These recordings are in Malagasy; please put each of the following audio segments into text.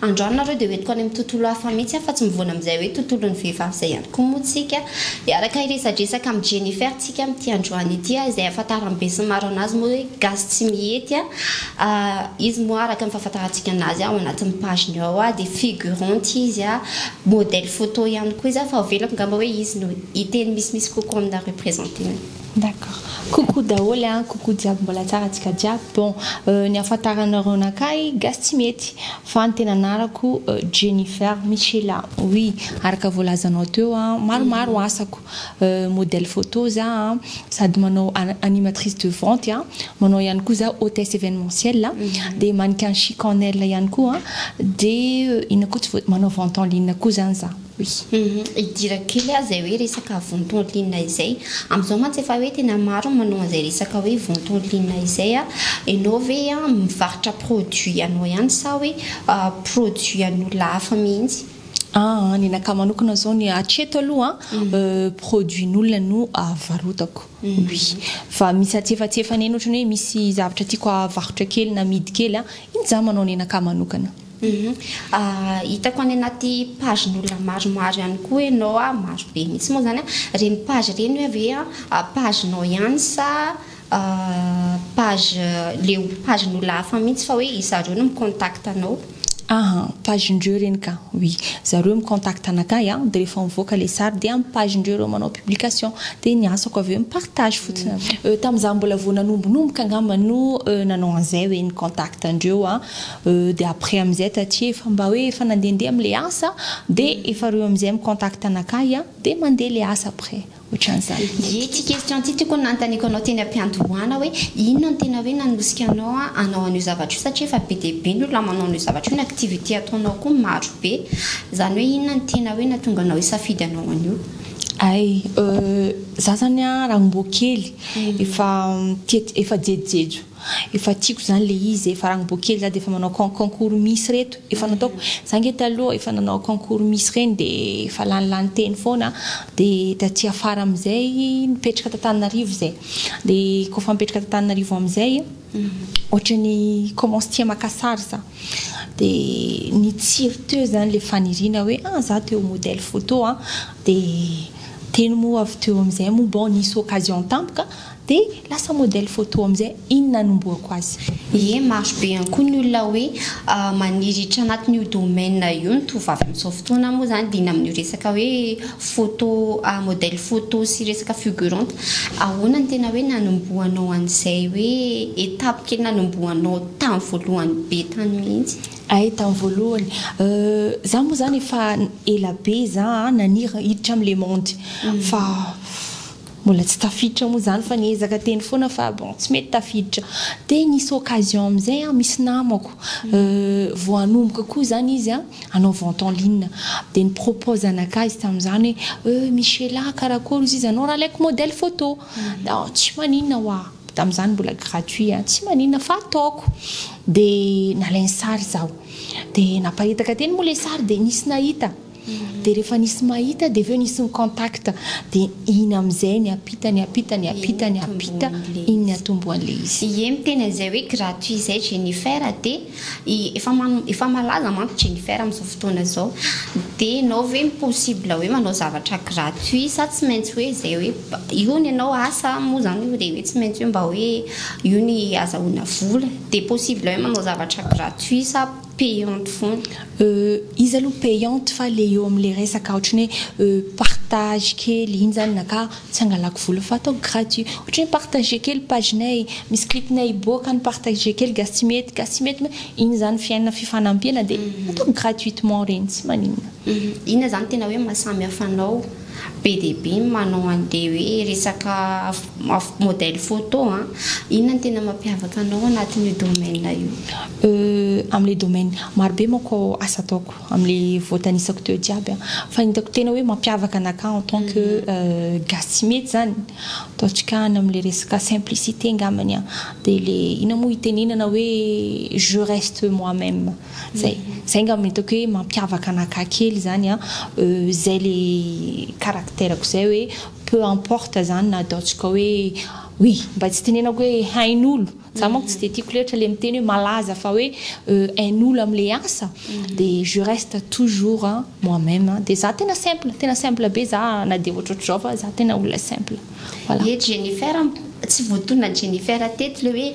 Androany nareo dia hoentiko any amin'ny tontolo hafa mihitsy aho fa tsy mivoana amin'izay hoe tontolon'ny vehivavy izay ihany koa moa tsika. Hiaraka hiresadresaka amin'i Jennifer tsika amin'ity androany ity a! Izay ahafantaran'ny besinimaro anazy moa hoe gasy tsy mihety a! Izy moa araka ny fahafantarantsika anazy ao anatin'ny page-ny ao a! dia figurante izy a! modèle photo ihany koa izy a! fa avelako ngamba hoe izy no hiteny misimisy kokoa aminareo presenter-ny. D'accord. Coucou daholo an! Coucou jiaby mbola tsara antsika jiaby. Bon, ny ahafantaranareo anakahy, gasy tsy mety, fa ny tena anarako Jennifer Michela. Oui, araka voalazanao teo an, maromaro asako, modèle photo za an, sady manao animatrice de vente an, manao ihany koa za hôtesse événementielle an, dia mannequin chic en aile ihany koa an, dia inona koa tsy voa, manao vente en ligne koa zany za. Hidirak kely aho izay hoe resaka vontolinina izay. Amin'izao mantsy efa hoe tena maro ny manao an'izay resaka hoe vontolinina izay. Ianao ve mivarotra produit anao ihany sa hoe produit an'olona hafa mihitsy? Aa, ny anakahy manokana izao ny hatreto aloha produin'olona no varotako. Oui. Fa misy atsy efa atsy efa an'iny ohatrany hoe misy zavatra tiako havarotra kely na amidy kely, iny izaho manao ny anakahy manokana. Hitako any anaty pagen'olona maromaro ihany koa ianao a, maro be mihitsy moa izany a. Ireny page ireny hoe ve pagenao ihany sa page le pagen'olona hafa mihitsy fa hoe zareo no mi-contact anao? Aha, pagen'ireo ireny ka. Oui, zareo mi-contact anakahy a, dia rehefa mivoaka ilay sary dia amin'ny pagen'ireo ireo manao publication. Dia ny asako avy eo mi-partage fotsiny avy eo. Tamin'izaho mbola vao nanombonomboka angamba no nanao an'izay hoe ny contact an'ireo a. Euh de après amizay taty efa mba hoe efa nandehandeha am le asa de efa reo amizay mi contact anakahy a de mandeha le asa après otranzany. Ity question ity tokony nanontaniako anao teny ampiandohana hoe inona no tena hoe nanosika anao hanao an'io zavatra io satria efa be dia be ny olona manao an'io zavatra io ny activité ataonao koa maro be izany hoe inona no tena hoe nahatonga anao hisafidy hanao an'io? Ay euh za zany a raha mboa kely efa tia efa jejojejo Efa tiako zany le izy e, fa raha mbo kely za de efa manao con concours miss reto efa nataoko, za nge taloha efa nanao concours miss reny de efa lany lany teny foana de taty afara amizay nipetraka t'Antananarivo zay de ko fa mipetraka t'Antananarivo amizay otrany commence tia maka sary za de nitsiry teo zany le faniriana hoe ah za te ho modèle photo a de teny moa avy teo amizay moa bon nisy occasion tampoka Dia lasa modèle photo amin'izay iny nanombohako azy. Ie, maro be ihany koa ny olona hoe maniry hiditra anatin'io domaine io ny tovovavy amin'izao fotoana moa izany dia iny amin'io resaka hoe photo, modèle photo sy resaka figurante. Ahoana no tena hoe nanombohanao an'izay hoe étape kely nanombohanao tamin'ny voalohany be tany mihitsy? Hay, tamin'ny voalohany, izaho moa izany efa ela be izaho naniry hiditra amin'ilay monde fa. Mbola tsy tafiditra moa zany fa niezaka teny foana fa bon tsy mety tafiditra. Dia nisy occasion amin'izay an, misy namako vao hanomboka koa izany izy hanao vente en ligne dia ni-propose anakahy izy tamin'izany hoe euh Michela a, karakôry izy izy anao raha alaiko modèle photo? dia aho tsy maninona hoa, tamin'izany mbola gratuit an, tsy maninona fa ataoko. Dia nalainy sary izaho. Dia naparitaka teny moa ilay sary dia nisy nahita. Dia rehefa nisy mahita dia avy eo nisy ni-contact. Dia iny amin'izay niampita, niampita, niampita, niampita, iny niatombo an'ilay izy. Ie miteny an'izay hoe gratuit izay Jennifer dia efa efa malaza manko Jennifer amin'izao fotoana izao. Dia ianao ve mi-possible hoe manao zavatra gratuit sa tsy maintsy hoe izay hoe io ny anao asa moa izany io dia hoe tsy maintsy hoe mba hoe io ny azahoana vola. Dia possible hoe manao zavatra gratuit sa. Payante foana. Euh iza aloha payante fa le eo amle resaka otrany hoe euh partage kely iny zany naka tsy hangalako vola fa ataoko gratuit otrany hoe partager kely page nay misy clip nay hiboaka any partager kely gasy tsy mety gasy tsy mety iny zany fiainana fifanampiana de ataoko gratuitement reny tsy maninona. Inona zany tena hoe maha samy hafa anao? be dia be ny manao an'ilay hoe resaka modèle photo an! Inona no tena mampiavaka anao anatin'io domaine io? Euh, amin'ilay domaine, maro be manko asa ataoko amin'ilay voatanisako teo jiaby an! Fa ny hitako tena hoe mampiavaka anakahy en tant que gasy tsy mety izany, ataontsika any amin'ilay resaka simplicité angambany an! Dia ilay, inona moa itenenana hoe je reste moi-même. Zay zay ngamba no hitako hoe mampiavaka an'Akkà kely zany an, zay le caractère-ko zay hoe peu importe zany na ataontsika hoe oui mba tsy tenenako hoe hain'olo, za manko tsy de tiako loatra le miteny hoe malaza fa hoe hain'olo amle asa de je reste toujours moi même de za tena simple tena simple be za na de ohatrohatr'izao fa za tena olona simple. Voilà. Ie Jennifer, tsy voatonona Jennifer teto le hoe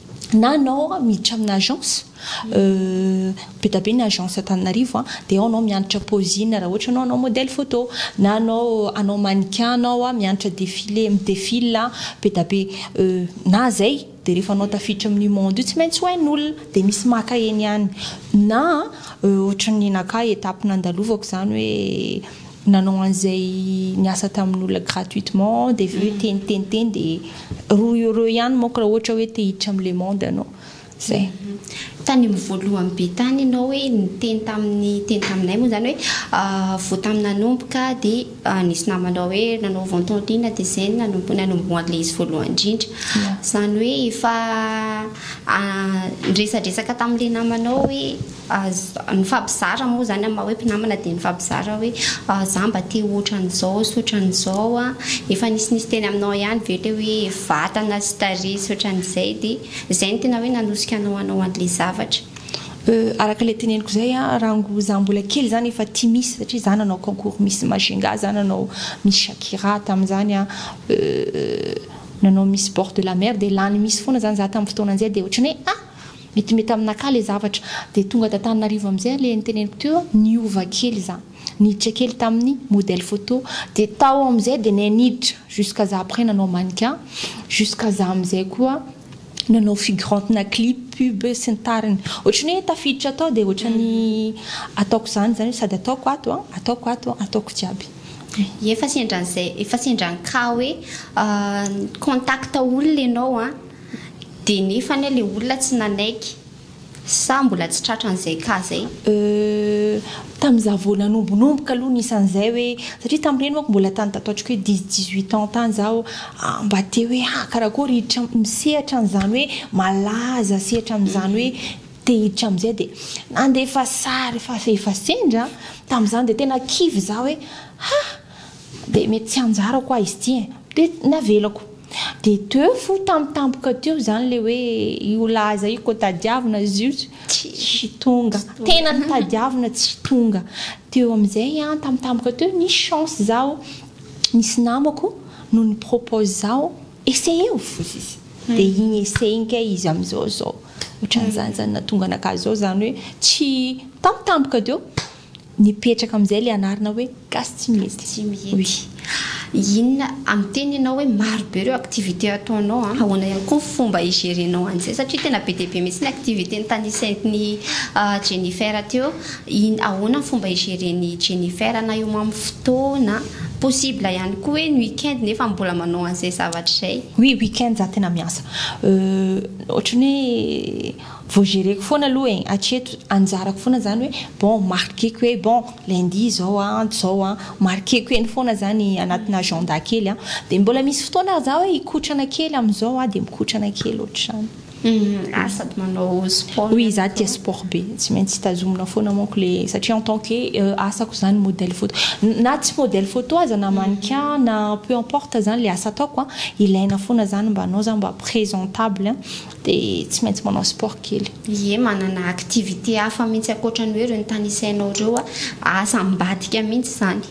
na anao miditra amina agence be da be ny agence Antananarivo a de ao anao mianatra posing raha ohatra anao anao modèle photo na anao anao mannequin anao a mianatra défilé mi défile be da be na zay de rehefa anao tafiditra amin'io monde io tsy maintsy ho hain'olona de misy maka eny ihany na ohatran'ny nenakahy étape nandalovako zany hoe nanao an'izay niasa tamin'olona gratuitement dia avy eo hoe teny teny teny dia roa euros ihany manko raha ohatra hoe te hiditra amin'ny le monde ianao. Izay. Tany amin'ny voalohany be tany ianao hoe niteny tamin'ny teny taminay moa izany hoe vao tamin'ny nanomboka dia nisy namanao hoe nanao vente en ligne dia izay no nanombo nanomboha an'ilay izy voalohany indrindra. Izany hoe efa niresadresaka tamin'ilay namanao hoe. Aza, nifampizara moa izany amin'ny maha hoe mpinamana dia nifampizara hoe za mba te ho ohatran'izao sy ohatran'izao an, efa nisy nisy teny aminao ihany ve ilay hoe vatana sy tarehy sy ohatran'izay dia izay no tena hoe nanosika anao hanao an'ilay zavatra? Euh, araka ilay teneniko izay an, raha ngo za mbola kely izany efa tia Miss satria za nanao concours Miss Majunga, za nanao Miss Shakira tamin'izany an, euh nanao Miss Bord de la Mer dia lany Miss foana izany za tamin'ny fotoana izay dia ohatran'ny hoe ah! Metimety aminà kah le zavatra. Dia tonga t'Antananarivo am'zay le niteneniko teo niova kely za. Niditra kely tamin'ny modèle photo. Dia tao am'zay dia nay niditra jusqu'à za après nanao mannequin. Jusqu'à za am'zay koa nanao figurante-na clip, pub sy ny tariny. Ohatran'ny hoe tafiditra tao dia ohatran'ny ataoko zany zany hoe sady ataoko ato an, ataoko ato an, ataoko jiaby. Efa sendran'zay, efa sendran'ny cas hoe contact olona ianao an. Dia nefa anie ilay olona tsy nanaiky. Sa mbola tsy tratran'izay cas izay? Euh, tamin'izaho vao nanombonomboka aloha nisy an'izay hoe, satria tamin'ireny manko mbola tany tato atriko hoe dix, dix huit ans tany izaho, ah, mba te hoe ah, karakôry hiditra amin'ny sehatra an'izany hoe malaza, sehatra amin'izany hoe te hiditra amin'izay dia nandefa sary efa, efa sendra, tamin'izany dia tena kivy izaho hoe ah! Dia mety tsy anjarako hoa izy ity eh. Dia navelako. Dia teo fo tampotampoka teo izany ilay hoe io laza io koa tadiavina izy io tsy tonga. Tena notadiavina tsy tonga. Teo amin'izay an, tampotampoka teo nisy chance izaho, nisy namako no ni-propose izaho, essayeo foza izy. Dia iny essay iny kay izy amin'izao izao. Ohatran'izany izany nahatonga anakahy izao izany hoe tsy tampotampoka teo. Nipetraka amin'izay ilay anarana hoe Gasy Tsy Mihety. Tsy Mihety. Inona, amin'ny teny ianao hoe maro be ireo activités ataonao an, ahoana ihany koa ny fomba hi-gérer-nao an'izay satria tena be dia be mihitsy ny activités notanisain'i Jennifer teo. In, ahoana ny fomba hi-gérer-n'i Jennifer na eo amin'ny fotoana. Possible ihany koa hoe ny week-end nefa mbola manao an'izay zavatra izay. Oui, week-end za tena miasa. Euh, ohatran'ny hoe. Vao gereko foana aloha e, hatreto anjarako foana zany hoe bon marqueko hoe bon lundi izao a, ento izao a, marqueko eny foana zany anatina agenda kely a, dia mbola misy fotoana ary za hoe hikotrana kely amin'izao aho dia mikotrana kely ohatr'izany. Ary sady manao sport. Oui, za tia sport be, tsy maintsy tazomina foana manko le satria en tant que asako zany modèle photo, na tsy modèle photo aza na mannequin na peu importe zany le asa ataoko a, ilaina foana zany mba anao zany mba présentable. dia tsy maintsy manao sport kely. Ie manana activité hafa mintsy ankoatra ny hoe ireo notanisainao ireo a, asa ambadika mintsy izany.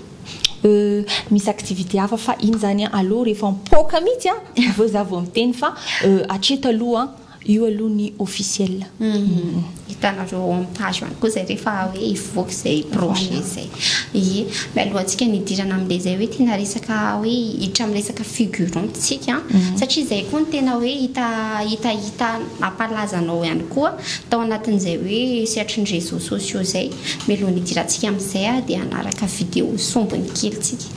Euh, misy activité hafa fa iny izany a, aleo rehefa mipoaka mintsy a, avy eo za vao miteny fa euh, hatreto aloha io aloha ny officiel. Uhm. Hitanareo ao amin'ny page one koa zay rehefa hoe hivoaka izay projet izay. Ie. Mialohantsika ny hidirana amin'ilay izay hoe tena resaka hoe hiditra amin'ny resaka figurant tsika satria izay koa no tena hoe hita hita hita mampalaza anao ihany koa tao anatin'izay hoe sehatry ny réseaux sociaux izay. Mialohan'ny hidirantsika amin'izay ary dia hanaraka vidéo sombiny kely tsika.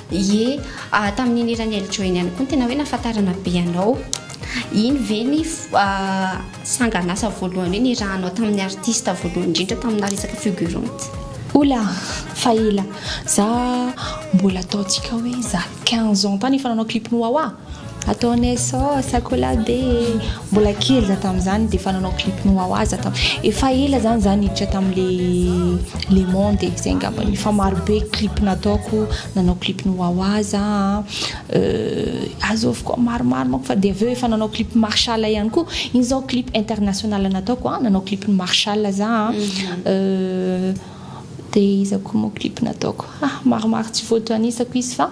Ie, ah tamin'iny eran'i Eljo iny ihany koa no tena hoe nahafantarana be anao. Iny ve ny sangan'asa voalohany hoe nirahanao tamin'ny artista voalohany indrindra taminà resaka figurante? Oula! fa ela. Za mbola ataontsika hoe za quinze ans tany efa nanao clip ny Wawa. Ataonay sao sakola be e! Mbola kely za tamin'izany dia efa nanao clip ny wawa za tam. Efa ela izany za niditra tamin'le le monde e, zay angamba no efa maro be clip nataoko, nanao clip ny wawa za an, azovy koa maromaro manko fa dia avy eo efa nanao clip marshall ihany koa, iny izao clip international nataoko an, nanao clip ny marshall za an, dia iza koa moa clip nataoko, ah maromaro tsy voatanisa ko izy fa.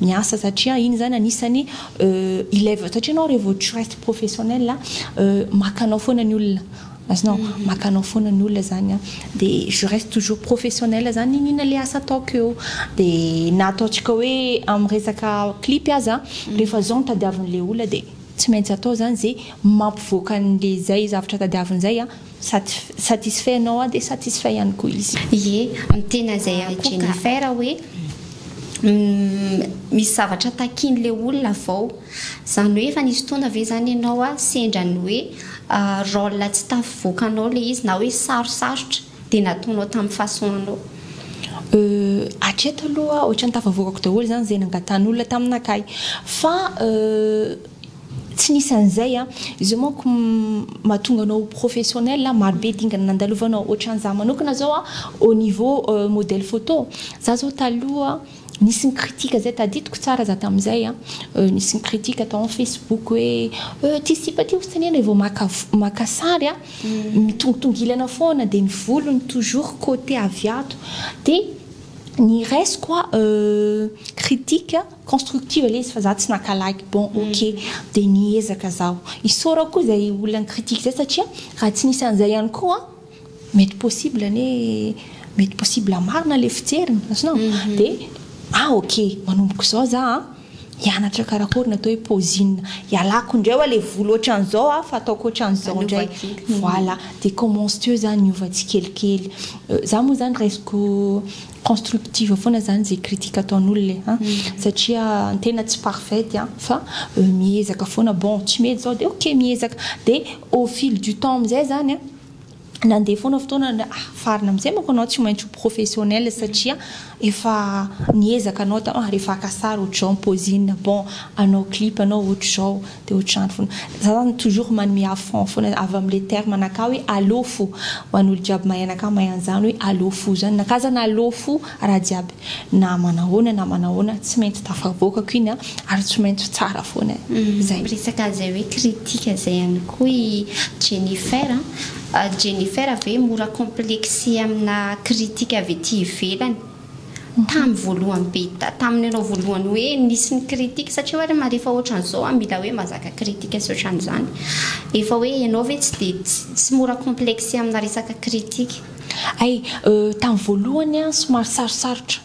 miasa satria iny zany anisany ilève satria enao revô tu reste professionnel maka anao foana ny olona azonao mhm. maka anao foana ny olona zany a de je reste toujours professionnel zany inona le asa ataoko eo de na ataontsika hoe am resaka clip aza mhm. rehefa zao ny tadiavin'le olona de tsy maintsy atao zany ze mampivoaka an'le zay zavatra tadiavin'zay a Satisfait anao aho dia satisfait ihany koa izy. Ie, ny tena izay akoka. Jennifer hoe misy zavatra takian'ilay olona avao. Izany hoe efa nisy fotoana ve izany ianao sendra ny hoe rôle tsy tafavoakanao ilay izy na hoe sarosarotra dia nataonao tamin'ny façon anao? Euh, hatreto aloha ohatran'ny tafavoakako daholo izany izay nangatan'olona taminakahy. Fa euh. Tsy nisy an'izay a! Izao manko mahatonga anao ho professionnel a! Maro be dingana nandalovanao. Ohatran'izaho manokana izao a, au niveau modèle photo, izaho izao taloha nisy ny critique izay tadidiko tsara izaho tamin'izay a, nisy ny critique tao amin'ny Facebook hoe euh! ity sipa ity hosotanina rehefa vao maka maka sary a, mitongitongilana foana dia ny volony toujours côté avy ato. Dia ny raisiko a euh! critique. constructive ilay izy fa za tsy naka like bon ok dia niezaka zaho hisaora koa izay olona ni-critique zay satria raha tsy nisy an'izay ihany koa mety possible anie mety possible marina ilay fijeriny azonao dia ah ok manomboka izao za a hianatra karakory ny atao hoe pozina ialako indray hoa ilay volo ohatran'izao a fa ataoko ohatran'izao indray voilà dia commence teo zany hiova tsikelikely za moa zany raisiko constructive foana zany izay critique ataon'olona e an! satria ny tena tsy parfaite an! fa miezaka foana bon tsy mety zao dia ok miezaka dia au fil du temps amin'izay zany an! nandeha foana fotoana dia ah! farina amin'izay manko anao tsy maintsy ho professionnel satria efa niezaka anao taloha rehefa haka sary ohatr'izao ny pause inona bon hanao clip anao ohatr'izao Dia ohatr'izany foana. Za zany toujours manome à fond foana avy amin'ilay terme anakah hoe allo fo. Ho an'olo jiaby mahay anakah mahay an'izany hoe allo fo izany. Nakah zany allo fo raha jiaby na manahoana na manahoana tsy maintsy tafavoakako iny an, ary tsy maintsy tsara foana e. Zay. Miresaka an'izay hoe critique zay ihany koa i Jennifer an. Jennifer ve mora complexer amina critique avy ety ivelany? Tamin'ny voalohany be ta, tamin'ny nanao voalohany hoe nisy ny critique, satria hoe ma rehefa ohatran'izao an, mila hoe mazaka critique sy ohatran'izany. Efa hoe ianao ve tsy dia, tsy, tsy mora complexer amina resaka critique. Hay, euh, tamin'ny voalohany an, somary sarosarotra,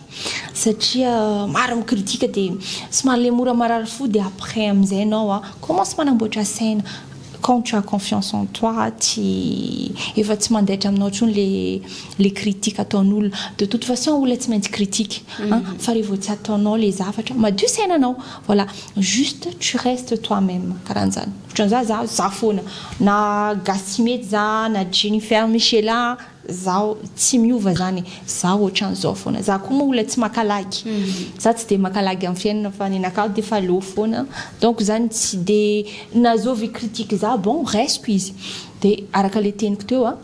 satria maro mi critique dia somary le mora marary fo dia après amin'izay ianao an, commence manamboatra saina. Quand tu as confiance en toi, tsy, efa tsy mandaitra aminao intsony le, le critique ataon'olona. De toute façon olona tsy maintsy critique an, fa revô tsy ataonao le zavatra, madio saina anao, voilà, juste tu restes toi même, karan'zany. Otran'zah, zah, zah foana, na gasy tsy mety zah, na jennifer michela, Zaho tsy miova zany, zaho otran'izao foana, za koa moa olona tsy maka lagy, za tsy dia maka lagy amin'ny fiainana fa nenakahy defa aleo foana, donc zany tsy dia na zovy hi-critique za bon raisiko izy, dia araka le teniko teo a,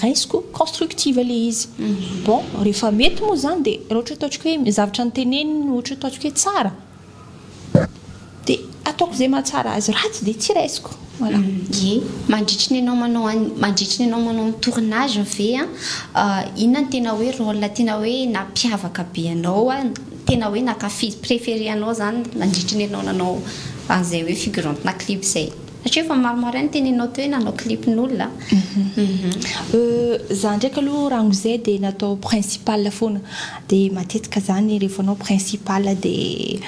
raisiko constructive le izy, bon rehefa mety moa zany dia raha ohatra hoe ataontsika hoe zavatra noteneniny ohatra hoe ataontsika hoe tsara, Dia ataoko izay mahatsara azy, ratsy dia tsy raisiko. Voilà. Ie. Mandritry ny anao manao an mandritry ny anao manao ny tournage ve an inona no tena hoe rôle tena hoe nampiavaka be anao an tena hoe nankafiz préféré anao zany nandritry ny anao nanao an'izay hoe figurante-na clip zay? Satria efa maro maro ihany teneninao teo hoe nanao clip n'olona a. Euh, za ndraiky aloha raha an'izay dia natao principal foana, dia matetika zany rehefa anao principal dia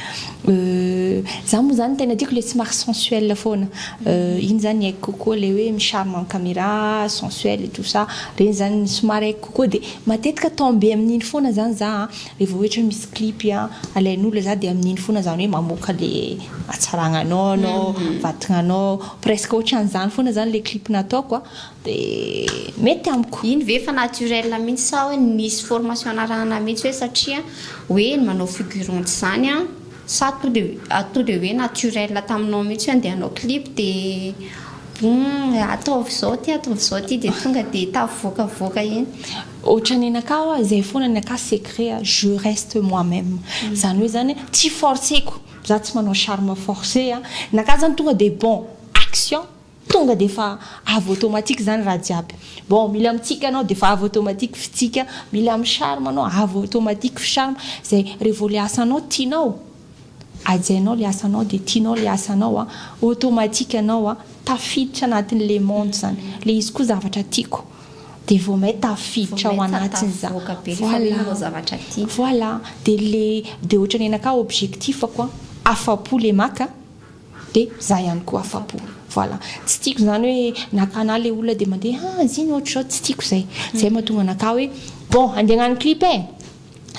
euh, za moa zany tena tiako ilay somary sensuel foana, euh iny zany haiko kokoa ilay hoe mi-charme en camera, sensuel et tout ça, ireny zany somary haiko kokoa dia matetika tomber amin'iny foana zany za a. Rehefa ohatra hoe misy clip alain'olona za dia amin'iny foana zany hoe mamoaka le hatsaragna anao anao, vatagna anao, presque ohatran'izany foana zany le clip nataoko a, de mety amiko. Iny ve efa naturel mihitsy sa hoe nisy formation narahana mihitsy hoe satria hoe manao figurante zany a, sa to de to de hoe naturel taminao mihitsy hoe andeha hanao clip de ataovy zao ty ataovy zao ty de tonga de tafavoakavoaka eny. Otrany anakahy wa zay fona ny akahy secret a je reste moi meme zany hoe zany tsy forceko za tsy manao charme force a ny akahy zany tonga de bon action tonga de efa avy automatique zany raha jiaby bon mila mitsika anao de efa avy automatique fitsika mila mi charme anao avy automatique fi charme zay re vo le asanao tianao Hajainao le asanao de tianao le asanao a, automatique anao a tafiditra anatin'ny le monde zany, le izy koa zavatra tiako de vao may tafiditra ao anatiny za, voilà, voilà de le de ohatran'ny aina ka objectif-ko a afapo le maka de za ihany koa afapo, voilà tsy tiako zany hoe nakana le olona de mandeha ah ziny ohatr'izao tsy tiako zay, zay mahatonga anakahy hoe bon andeha hagnano clip e!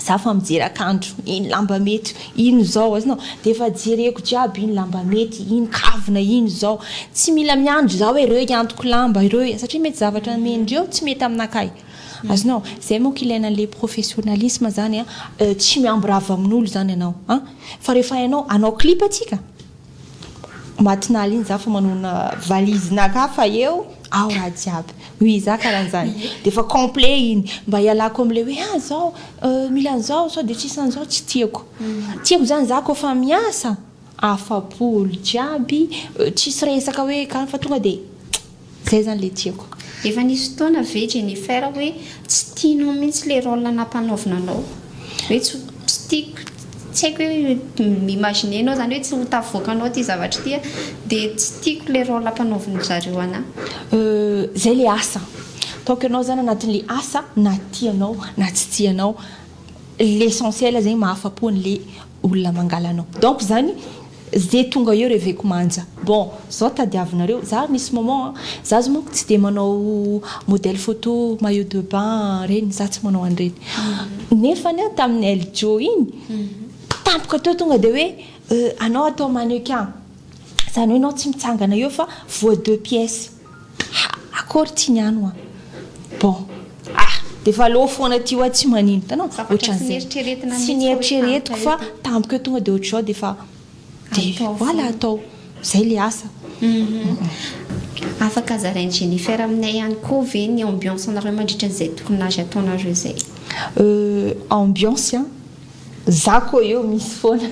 za fa mijery akanjo iny lamba mety iny zao azonao de efa jereko jiaby iny lamba mety iny kavina iny zao tsy mila miandry za hoe reo iantoko lamba ireo satria mety zavatra amendreo tsy mety aminakahy azonao zay moa kilaina le professionnalisme zany a tsy miamborava amin'olo zany ianao a fa rehefa ianao anao clip atsika Matignal iny za fa manona valise na ka fa eo ao raha jiaby oui za karanzany de efa complet iny mba ialako amle hoe ah zao euh, mila anzao sao de tsisy anzao tsy tiako mm. tiako zany za ko fa miasa afapo olo jiaby euh, tsisy resaka hoe ka fa tonga de Zay zany le tiako. Efa nisy fotoana ve Jennifer hoe tsy tianao mihitsy le rôle nampanaovina anao? Hoe tsy tsy tiako tsy haiko hoe mi-imaginer anao zany hoe tsy ho tafavoakanao ity zavatra ity a de tsy tiako le rôle ampanaovin'ny zareo anah. Euh zay le asa. Ataoko ianao zany anatin'le asa na tianao na tsy tianao. L'essentiel zegny mahafapo an'le. olona mangala anao donc zany ze tonga eo reveko manja bon zao tadiavinareo za misy moment an za zao manko tsy de manao modèle photo maillot de bain reny za tsy manao an'ireny nefany an tamin'ny Eljo iny tampoka teo tonga de hoe anao atao mannequin zany hoe enao tsy mitsangana eo fa voa deux pièces Ha! Akory ity ny anwa. Bon. Ah! Dia efa aleo foana ity wa tsy manino. Hitanao? Zavatra tsy neritreretina mihitsy fa hoe tampoka eto. Tsy neritreretiko fa tampoka eo tonga dia ohatr'izao dia efa dia voilà atao. Izay ilay asa. Afaka zarain'i Jennifer aminay ihany koa ve ny ambiance-nareo mandritra an'izay tournage ataonareo izay? Euh, ambiance an! Za koa eo misy foana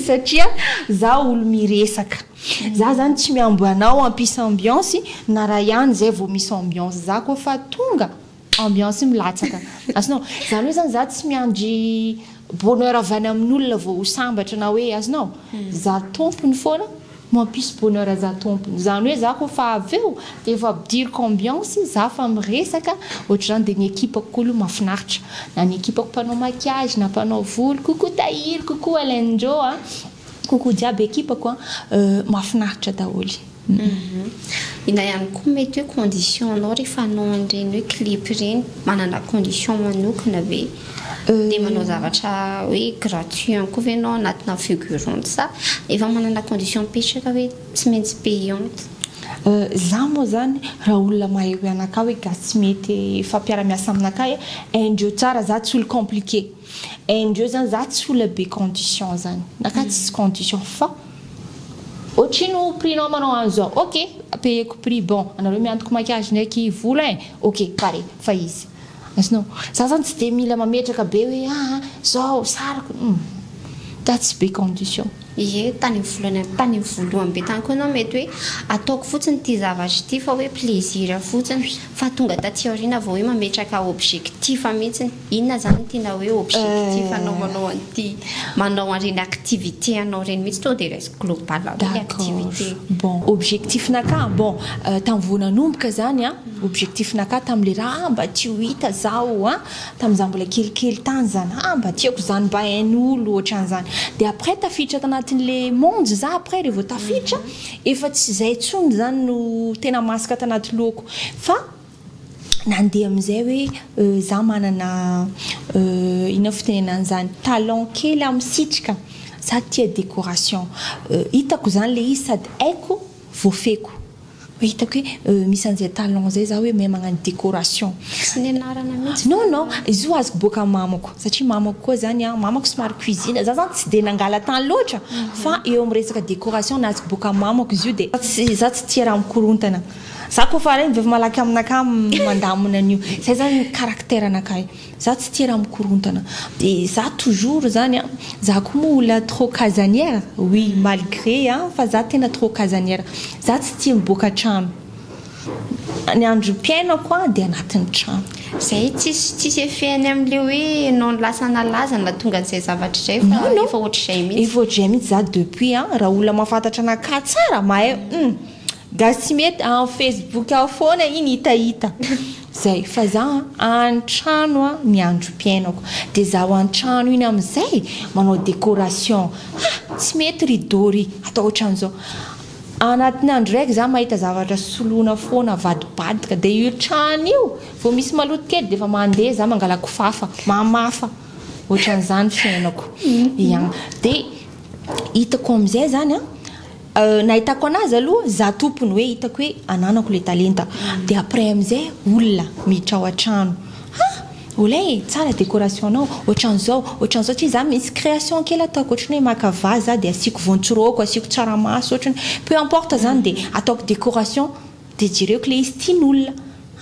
satria za olo miresaka. Za zany tsy mihambo anao hampisy ambiance na raha ihany zay vao misy ambiance za koa fa tonga ambiance milatsaka azonao zany hoe zany za tsy miandry bonheur avy any amin'olona vao ho sambatra na hoe azonao za tompony foana mampisy bonheur za tompony zany hoe za koa fa avy eo de efa ampidiriko ambiance za fa miresaka ohatr'izany de ny equipe-ko koa aloha mahafinaritra na ny equipe-ko mpanao maquillage na mpanao voloko koa tahiriko koa alain-dreo a Coucou jiaby ekipako a, mafinaritra daholo. Hum na ihany koa mety hoe condition anao rehefa hanao an'ireny hoe clip ireny manana condition manokana ve dia manao zavatra hoe gratuit ihany koa ve ianao anatina figurante sa efa manana condition mipetraka hoe tsy maintsy payante? Za moa zany raha olona mahay hoe anakahy hoe gasy tsy mety hifampiara-miasa aminakahy, haindreo tsara za tsy olo compliqué. Indreo zany za tsy olona be condition zany na ka tsisy condition fa ohatry no prix nao manao an'i zao ok payeko prix bon anareo miantoko maquillage ndraiky vola eh ok pare fa izy azonao za zany tsy de mila mametraka be hoe aa zao sariko humm za tsy be condition. Ie tany volana tany voalohany be tany koa enao mety hoe ataoko fotsiny ity zavatra ity fa hoe plaisir fotsiny fa tonga taty aoriana vao hoe mametraka objectif mihitsiny. Inona izany no tiana hoe objectif anaovanao an'ity manao an'ireny activité anao ireny mihitsy tonga dia resiko global hoe ilay activité. Bon, objectif-nakà, bon, tamin'ny vao nanomboka izany an, objectif-nakà tamin'ilay raha, ah mba tiako ho hita izaho an, tamin'izaho mbola kelikely tany izany, ah mba tiako izany mba hain'olo ohatran'izany. Dia après tafiditra tanatin'ilay monde izaho après rehefa tafiditra, efa tsy izay intsony izany no tena masaka tanaty lohako. Fa Nandeha amin'izay hoe za manana inona fitenenana an'izany, talent kely aho misitrika, za tia décoration, hitako izany le izy sady haiko, voafehiko, hoe hitako hoe misy an'izay talent zay za hoe mahay magnano décoration. Tsy nianarana mihitsy fa. Non non, izy io azoko boaka amin'ny mamako, satria mamako koa zany an, mamako somary cuisine, za zany tsy dia nangalatany loatra fa eo amin'ny resaka décoration nazoko boaka amin'ny mamako izy io dia za tsy tia raha mikorontana. Za ko fa reny vevy malaky aminakahy mandamina an'io. Zay zany ny caractère anakahy. Za tsy tia raha mikorontana. De za toujours zany an, za ko moa olona trop casanière, oui malgré an fa za tena trop casanière. Za tsy tia miboaka trano. Ny androm-piainako an de anatin'ny trano. Zay tsisy tsisy effet-ny amin'le hoe enao lasa nalaza nahatonga an'izay zavatra izay fa efa ohatr'izay mihitsy. Efa ohatr'izay mihitsy za depuis an, raha olona mahafantatra anakahy tsara mahay hum. Gasy tsy mety a en facebook ao foana iny hitahita zay fa za a antrano a ny andro piainako de za ao antrano iny amizay manao decoration ha tsy mety ry dory atao otranzao anatiny andro raiky za mahita zavatra soloina foana avadibadika de io trano io vo misy maloto kely defa mande za mangala kofafa mamafa otranzany fiainako ya de itako amizay zany a. Nahitako anazy aloha za tompony hoe hitako hoe ananako le talenta de après amizay olona miditra ao atrano ha olay e tsara décoration nao otranzao otranzao tsy za misy création kely ataoko otrany hoe maka vase za de asiako voantsiroko asiako tsaramaso otrany peu importe zany de ataoko décoration Dia jereo kle izy tiany olona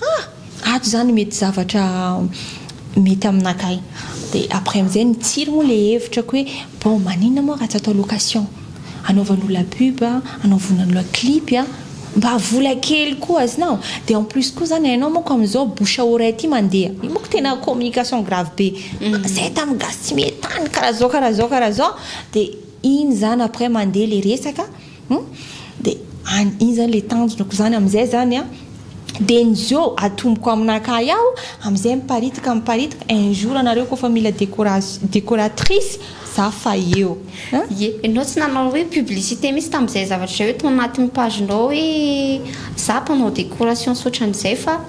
ah! ato zany mety zavatra mety aminakahy dia après amizay mitsiry moa le hevitra ko hoe bon maninona moa raha tsy atao location anaovan'olona pub a anaovan'olona clip a mba vola kely koa azonao dia en plus koa zany hainao manko amizao bouche à oreille ty mandeha io manko tena communication grave be zay tamin'ny gasy tsy mety tany karaha zao karaha zao karaha zao dia iny zany après mandeha le resaka Hum de any iny zany le tanjonako izany amizay zany an de ny zo atomboko aminakahy ao amizay miparitaka miparitaka un jour anareo koa fa mila décoration décoratrice za fa eo an. Ye, enao tsy nanao hoe publicité mihitsy tamizay zavatra izay hoe tao anatin'ny page nao hoe za mpanao décoration sy otran'izay fa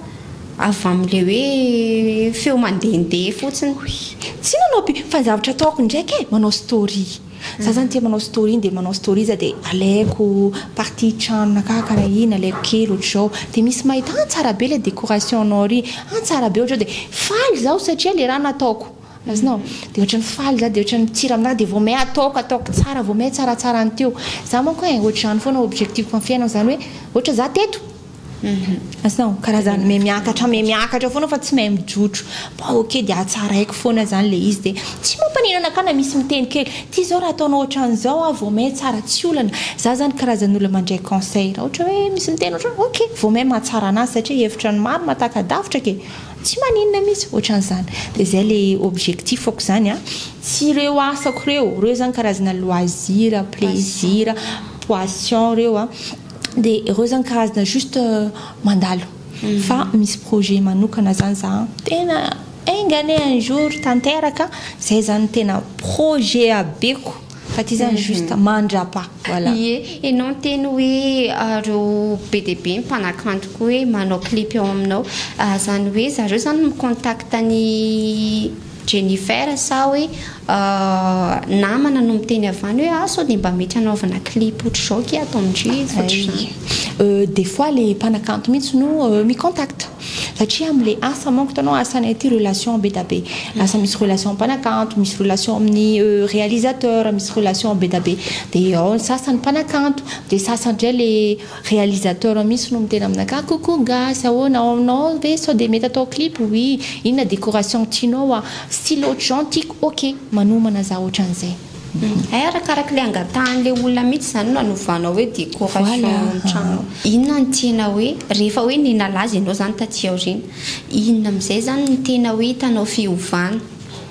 avy amle hoe feo mandehandeha fotsiny. Oui, tsy nanao pu fa ny zavatra ataoko ndraiky e manao story. Za zany tia manao story iny de manao story za de alaiko partie tranona ka karaha iny alaiko kely otrzao de misy mahita ah tsara be le decoration nao ry ah tsara be otrzao de faly zaho satria le raha nataoko azonao de otrany faly za de otrany mitsiry aminahy de vao may ataoko ataoko tsara vao may tsaratsara ny teo za manko eh otrzany foana objectif am fiainako zany hoe otra za teto Asa o, karazany miha miakatra miha miakatra foana fa tsy mahay mijotro. Bon ok dia hatsaraiko foana izany ilay izy dia tsy mampaninona ka na misy miteny kely ity izao raha ataonao ohatran'izao aho vao may tsara tsy olana. Za izany karazan'olona mandray conseil raha ohatra hoe misy miteny ohatran'izao ok vao may mahatsara an'azy satria hevitra ny maro mahataka-davitra kee. Tsy maninona mihitsy ohatran'izany. Dia izay ilay objectif-ko izany an. Sy ireo asako ireo, ireo izany karazana loisir, plaisir, poission ireo an. Dia ireo zany karazana juste mandalo. Mhm. Fa misy projet manokana zany za tena enga anie un jour tanteraka zay zany tena projet abeko fa ty zany mhm. juste mandrapa voilà. Ie, enao teny hoe ah, reo be dia be mpanakanto koa hoe manao clip eo aminao. Ah, zany hoe zareo zany mi-contact ny Jennifer sa hoe namana no miteny avy any hoe ah sao dia mba mety hanaovana clip ohatr'izao akia ataon-dry ohatr'izany. Des fois le mpanakanto mihitsy no mi contact satria amle asa manko hitanao asanay aty relation be da be lasa misy relation mpanakanto misy relation amin'ny realisateur misy relation be da be de ao ny sasany mpanakanto de sasany ndray le Réalisateur mihitsy no miteny aminakahy coucou gasy ahoana ao aminao ve sao dia mety atao clip oui inona décoration tianao a style ohatrizao ny tiako ok manomana za ohatran'izay. Hay arakaraky le angatahan'le olona mihitsy zany no anovanao hoe décoration trano inona no tianao hoe rehefa hoe ny nalaza ianao zany taty aoriana inona amizay zany no tena hoe hitanao fiovana.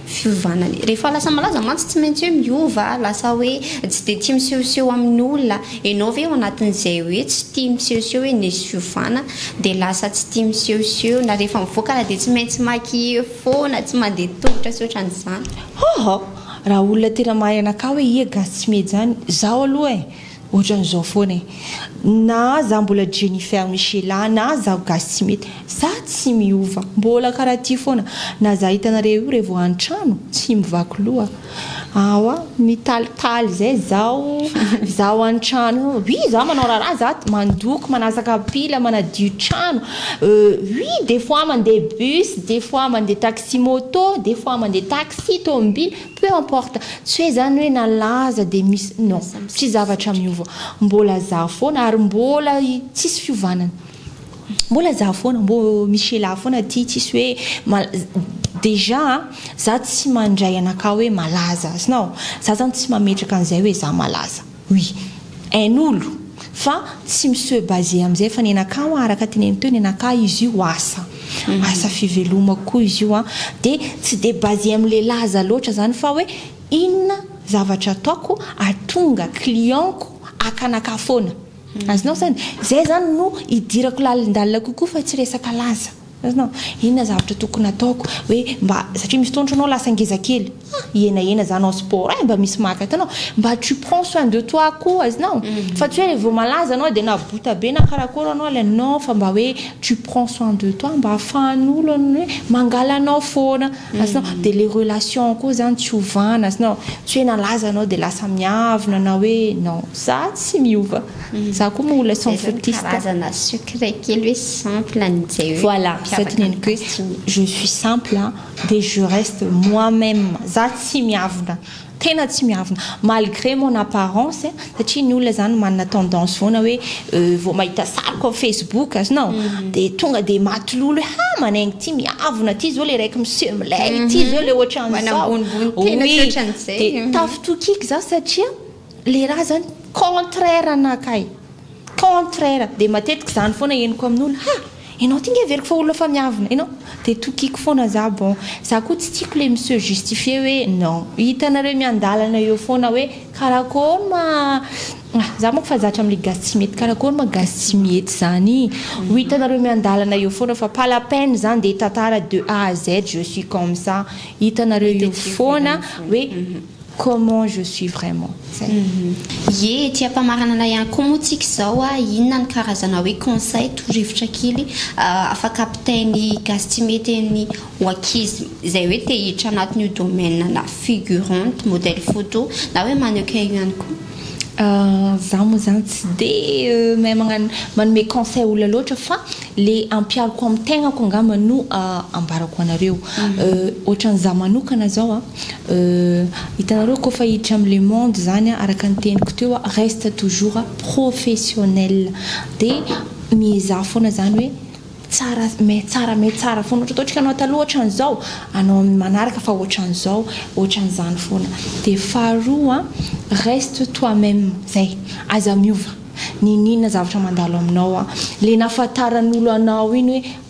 fiovana ny. Rehefa lasa malaza mantsy tsy maintsy hoe miova a, lasa hoe tsy dia tia misehoseho amin'ny olona a, ianao ve ao anatin'izay hoe tsy tia misehoseho hoe nisy fiovana dia lasa tsy tia misehoseho na rehefa mivoaka ara dia tsy maintsy maquiller foana, tsy mandeha tongotra sy ohatran'izany? Hoo! raha olona tena mahay anakahy hoe iieh gasy tsy miheja any, zaho aloha e! Ohatran'izao foana e. Na za mbola Jennifer Michela na zaho gasy tsy mety. Za tsy miova. Mbola karaha ty foana. Na za hitanareo io revô antrano tsy mivaky loha. Aowa mitalitaly zay zaho. Zaho antrano eo oui za manao raharaha za mandoko manasa kapila manadio trano euh oui des fois mande bus des fois mande taxi moto des fois mande taxi tômbily Peu importe, tsy hoe zany hoe nalaza dia misy, non, tsy zavatra miova, mbola za foana ary mbola tsisy fiovanany, mbola za foana, mbo misy sheila foana aty, tsisy hoe mal, déjà a, za tsy mandray anakahy hoe malaza, azonao, za zany tsy mametraka an'izay hoe za malaza. Oui. Ain'olo. Fa tsy mi-se baser amin'izay fa nenakà hoa araka teneniny teo, nenakà izy io asa. Asa fivelomako koa izy io an. Dia tsy dia baser amin'ilay laza loatra izany fa hoe inona zavatra ataoko hahatonga client-ko haka anakà foana. Azonao izany? Izay izany no idirako lalindalina kokoa fa tsy resaka laza. Inona zavatra tokony ataoko hoe mba satria misy fotoana ohatranao lasa ngeza kely ah hihenahena za hanao sport eh mba misy maka hitanao mba tu prends soin de toi koa iznao fa tsy hoe vao malaza anao de na bota be na karakôry anao ilay non fa mba hoe tu prends soin de toi mba afahan'olo ny hoe mangala anao foana iznao de le relation koa zany tsy ovana iznao tsy hoe nalaza anao de lasa miavona na hoe non za tsy miova. Za koa moa olona sans fautiste. Zay zany karazana secret kely hoe simple an'izay hoe Voilà, zay teneniko hoe je suis simple dia je reste moi même. Za tsy miavona, tena tsy miavona malgré mon apparence satria ny olona zany manana tendance foana hoe vao mahita sariko am facebook azonao dia tonga dia matilolo hoe ha manaingo ity miavona ity zao ilay raiky miseho milay ity zao ilay ohatran'izao, oui, dia tafitokiko za satria. Le ra zany contraire na kay contraire de matetika zany foana henoko amin'olo ha enao ty nge everiko fa olona efa miavona enao de tokiko foana za bon za ko tsy tiko le mi-se justifier hoe non hitanareo miandalana eo foana hoe karakory ma za manko fa zatra amle gasy tsy mety karakory ma gasy tsy mety zany ho hitanareo miandalana eo foana fa pas la peine zany de tantara de A à Z je suis comme ça hitanareo eo foana hoe Comment je suis vraiment. Zay. Ye ety ampamaranana ihany koa moa tsika izao a, inona ny karazana hoe conseil, toro-hevitra kely afaka ampitain'i Gastimety an'ny ho ankizy izay hoe te hiditra anatin'io domaine ana figurante, modèle photo na hoe mannequin io ihany koa? Za moa zany tsy de mahay magnano manome conseil olona loatra fa le ampihariko amin'ny tegnako angamba no ambarako anareo. Ohatran'ny za manokana zao a. Euh, hitanareo kôfa hiditra amin'ny le monde zany araka ny teniko teo a, reste toujours professionnel, de miezaha foana zany hoe tsara mais tsara mais tsara foana, ohatra ataontsika anao taloha otran'izao, anao amin'ny manaraka fa otran'izao, otran'izany foana, de faharoa a, reste toi même, zay, aza miova, n'inon'inona zavatra mandalo aminao a, le nahafantaran'olo anao iny hoe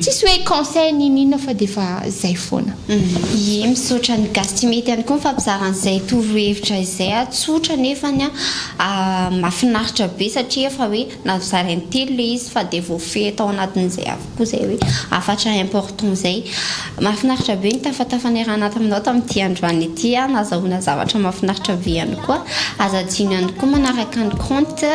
Tsisy hoe conseil n'in inona fa dia efa zay foana. Ie, misaotra ny gasy tsy mety ihany koa nifampizara an'izay toro hevitra izay a, tsotra nefany a mafinaritra be satria efa hoe navizara intelo le izy fa dia voafehy tao anatin'izay avokoa izay hoe hafatra important izay. Mafinaritra be ny tafatafa niarahana taminao tamin'ity androany ity a, nazahoana zavatra mafinaritra be ihany koa, aza adino ihany koa manaraka ny compte.